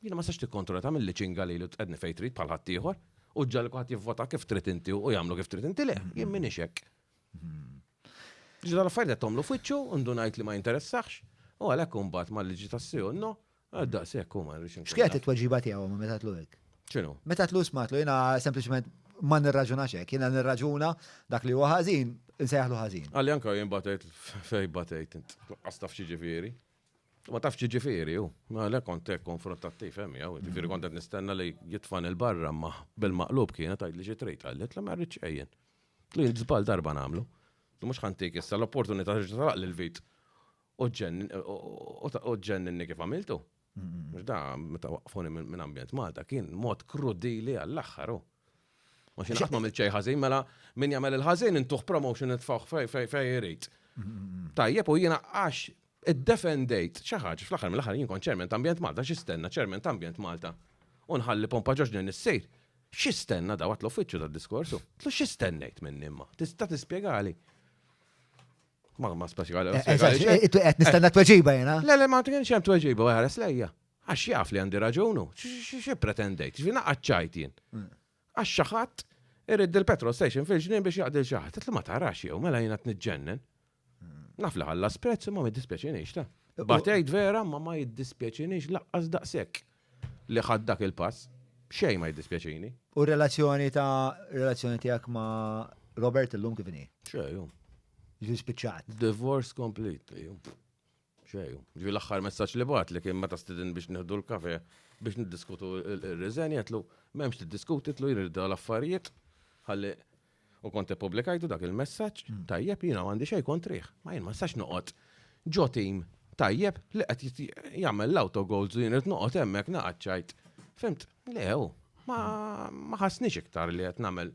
Jiena ma sax tikkontrolla tagħmilli ċinga lili u tqedni fejn trid bħal ħaddieħor u ġġalli kulħadd jivvota kif trid inti u jagħmlu kif trid inti le, jien m'iniex hekk. Ġiġa l-affarijiet qed tagħmlu f'wiċċu u ndunajt li ma jinteressax u għalhekk imbagħad mal-liġi tas-sew no, daqshekk huma rridx. X'kienet it-tweġiba tiegħu meta tlu hekk? X'inhu? Meta tlu smatlu jiena sempliċement ma nirraġunax hekk, jiena nirraġuna dak li huwa ħażin, insejħlu ħażin. Għalli anke jien batejt fejn batejt int. Qastaf xi ġifieri. Ma tafx ġifiri, u, għalek kont konfrontattiv, hemm jew, ġifiri kont nistenna li jitfan il-barra ma bil-maqlub kienet għajd li xi trid għallet li ma rridx ejjen. Li żbal darba nagħmlu. Mhux ħantik issa l-opportunità li talaq l vit u ġenninni kif għamiltu. Mhux da meta waqfuni minn ambjent Malta kien mod krudili għall-aħħar. Ma xi qatt m'għamilt xejn ħażin, mela min jagħmel il-ħażin intuħ promotion nitfgħu fej fej fej irid. Tajjeb u jiena għax iddefendejt xi ħaġa fl-aħħar mill-aħħar jien kont ċermen ambjent Malta x'istenna ċermen ambjent Malta. U nħalli pompa ġoġni nissejr. X'istenna daw għat l-uffiċċju tad-diskorsu? Tlu x'istennejt minn imma? Tista' tispjegali? Ma ma speċjali. Qed nistenna tweġiba jiena. Le le ma kienx hemm tweġiba, ħares lejja. Għax jaf li għandi raġun u xi pretendejt, xi naqgħad ċajt jien. Għax xi ħadd irid il-petrol station fil-ġnien biex jaqdi xi ħadd. Li ma tarax jew mela jiena tniġġennen. Naf li ħalla sprezz imma ma jiddispjaċinix ta. Batejt vera ma ma jiddispjaċinix laqqas daqshekk li ħadd dak il-pass. Xejn ma jiddispjaċini. U relazzjoni ta' relazzjoni tiegħek ma' Robert illum kif inhi? Xejn. Ġi spiċċat. Divorce complete. Xejn. Ġifi l-aħħar messaġġ li bat li kien meta stidin biex nieħdu l-kafe biex niddiskutu r-riżen jgħidlu m'hemmx tiddiskuti tlu jirda l-affarijiet ħalli u kont ippubblikajtu dak il-messaġġ hmm. tajjeb jiena m'għandi xejn kontrih. Ma jien ma sax noqgħod ġo tim tajjeb li qed jagħmel l-autogolds u jien qed noqgħod hemmhekk naqgħad ċajt. Fimt, lew, ma ħassniex iktar li qed nagħmel